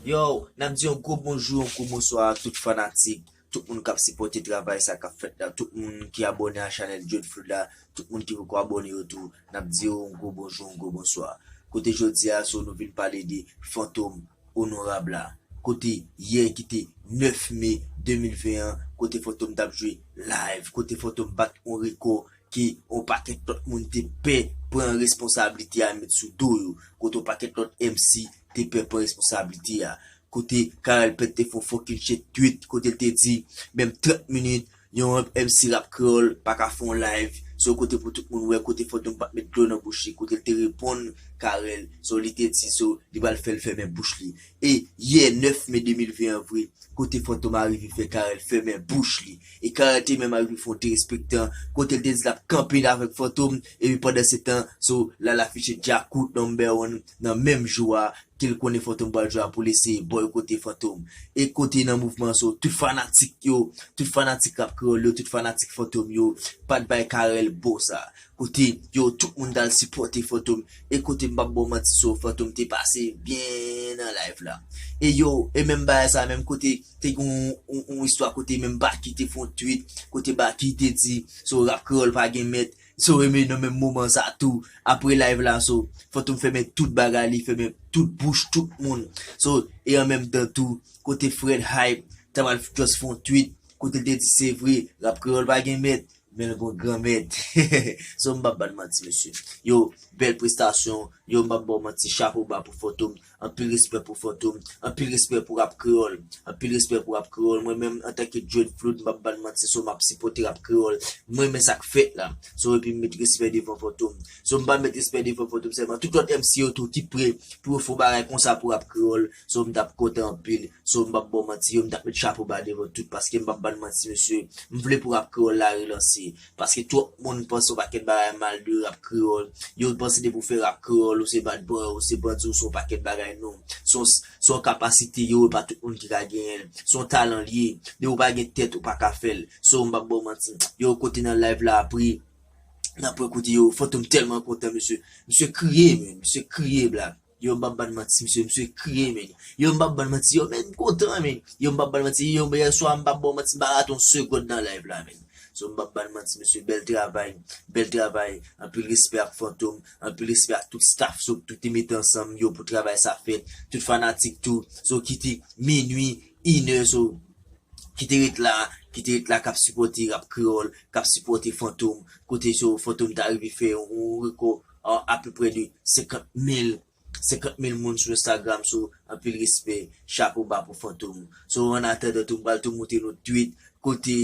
Yow, nap di yon gwo bonjou, yon gwo bonswa a tout fanatik, tout moun kap sipòte travay sa kap fèt la, tout moun ki abòne a chanèl Djod Food la, tout moun ki poko abòne yo tou, nap di yo yon gwo bonjou, yon gwo bonswa. Kote jodi a so nou vin pale de fantom onorab la, kote yè ki te 9 me 2020 an, kote fantom tap jwe live, kote fantom bat yon rekò ke on pakèt lòt moun te pè pran responsablite a met sou do yo, kote on pakèt lòt MC te pè pran responsablite a, kote Carel Pent te fè on fòkil che tweet kote l te di menm 30 minit yon MC rap kreyòl pa ka fè on layv se on kote pou tout moun wè kote Fantom pa t met dlo nan bouch li kote l te reponn Carel se w li te di se w li pral fè l fèmen bouch li. E yè 9 me 2020 an vre kote Fantom arive fè Carel fèmen bouch li e Carel te menm arive fè yon derespektan kote l te di l ap kanpe avèk Fantom epi pandan se tan so lal afiche Djakout number one nan menm jou a ke l konnen Fantom pral jwe a pou l eseye bòykote Fantom e kote nan mouvman so tout fanatik yo tout fanatik rap kreyòl yo tout fanatik Fantom yo pat bay Carel bo sa Kote yo tout moun tal sipòte fantom e kote m pap baw manti so fantom te pase byen nan live la e yo e menm bagay sa menm kote te gen yon istwa kote menm baky te fè yon tweet kote baky te di so rap kreyòl pa gen mèt so e nan menm moman sa tou apre live la so fantom fèmen tout bagay li fèmen tout bouch tout moun so e an menm tan tou kote fred hype ta pral just fè yon tweet kote l te di se vre rap kreyòl pa gen mèt Men l gon granmèt. Son m pap ba n manti mesye. Yow bèl prestasyon, yow m pap ba w manti chapo ba pou Fantom, anpil respè pou Fantom, anpil respè pou rap kreyòl, anpil respè pou rap kreyòl, mwen menm antanke Djed Flood m pap ba n manti so m ap sipòte rap kreyòl, m renmen sa k fèt la, so epi m met respè devan Fantom, so m pa met respè devan Fantom sèlman tout lòt MC yo tou ki pre pou yo fon bagay konsa pou rap kreyòl. So m tap kontan anpil. So m pap ba w manti yo m tap met chapo ba devan tout paske m pap bann manti mesye m vle pou rap kreyòl la relanse paske twòp moun panse yon pakèt bagay mal de rap kreyòl yo panse depi w fè rap kreyòl ou se bad boy ou se bandi ou se yon pakèt bagay non son se yon kapasite yo e pa tout moun ki ka genyen l se yon talan l ye depi w pa gen tèt ou pa ka fè l so m pap ba w manti yo kote nan live la apre nan pwen kout yo fantom tèlman kontan mesye misye kriye men misye kriye black. Yo m pap bann manti msye msye kriye men yo m pap bann manti yo men m kontan men yo m pap bann manti yo yèswa m pap baw manti m pa rate yon segond nan live la men so m pap bann manti mesye bèl travay bèl travay anpil respè ak fantom anpil respè ak tout staff so tout te mete ansanm yo pou travay sa fèt tout fanatik tou so kite minwi inè so kite ret la kite ret la kap sipòte rap kreyòl kap sipòte fantom kote so fantom ta rive fè yon rekò. Aww apeprè de 50 mil 50 mil moun sou Instagram so anpil respè chapo ba pou fantom so an atandan tou m pral tou moutre nou tweet kote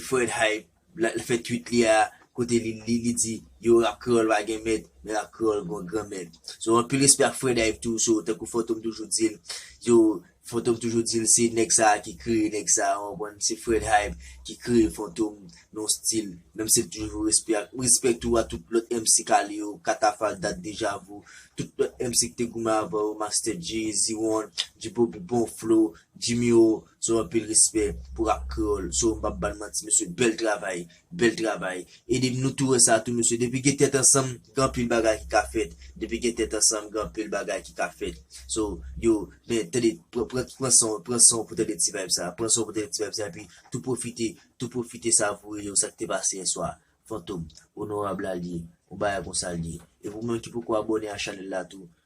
Fred Hype la fè tweet li a kote li li di yo rap kreyòl pa gen mèt men rap kreyòl gon gran mèt so anpil respè ak Fred Hype tou so tankou fantom toujou dil yo Fantom toujou dil se nèg sa ki kreye nèg sa ou konprann se Fred Hype ki kreye Fantom nan stil menm sil toujou respè ak respè tou a tout lòt MC kale yo katafal dat deja vu tout lòt MC ki te goumen avan yo Master Dje Zewon Djibobby bon flow Jimmy O so anpil respè pou rap kreyòl so mpap bann manti mesye bèl travay Bel travay. Ede m nou tou wè sa tou mesye depi gen tèt ansanm gen anpil bagay ki ka fèt depi gen tèt ansanm gen anpil bagay ki ka fèt so yo men tande pran san w pran san w pou tande ti vayb sa pran san w pou tande ti vayb sa epi tou pwofite tou pwofite savoure yo sa k te pase yèswa fantom onorab la l ye yon bagay konsa l ye e pou moun ki poko abòne a chanèl la tou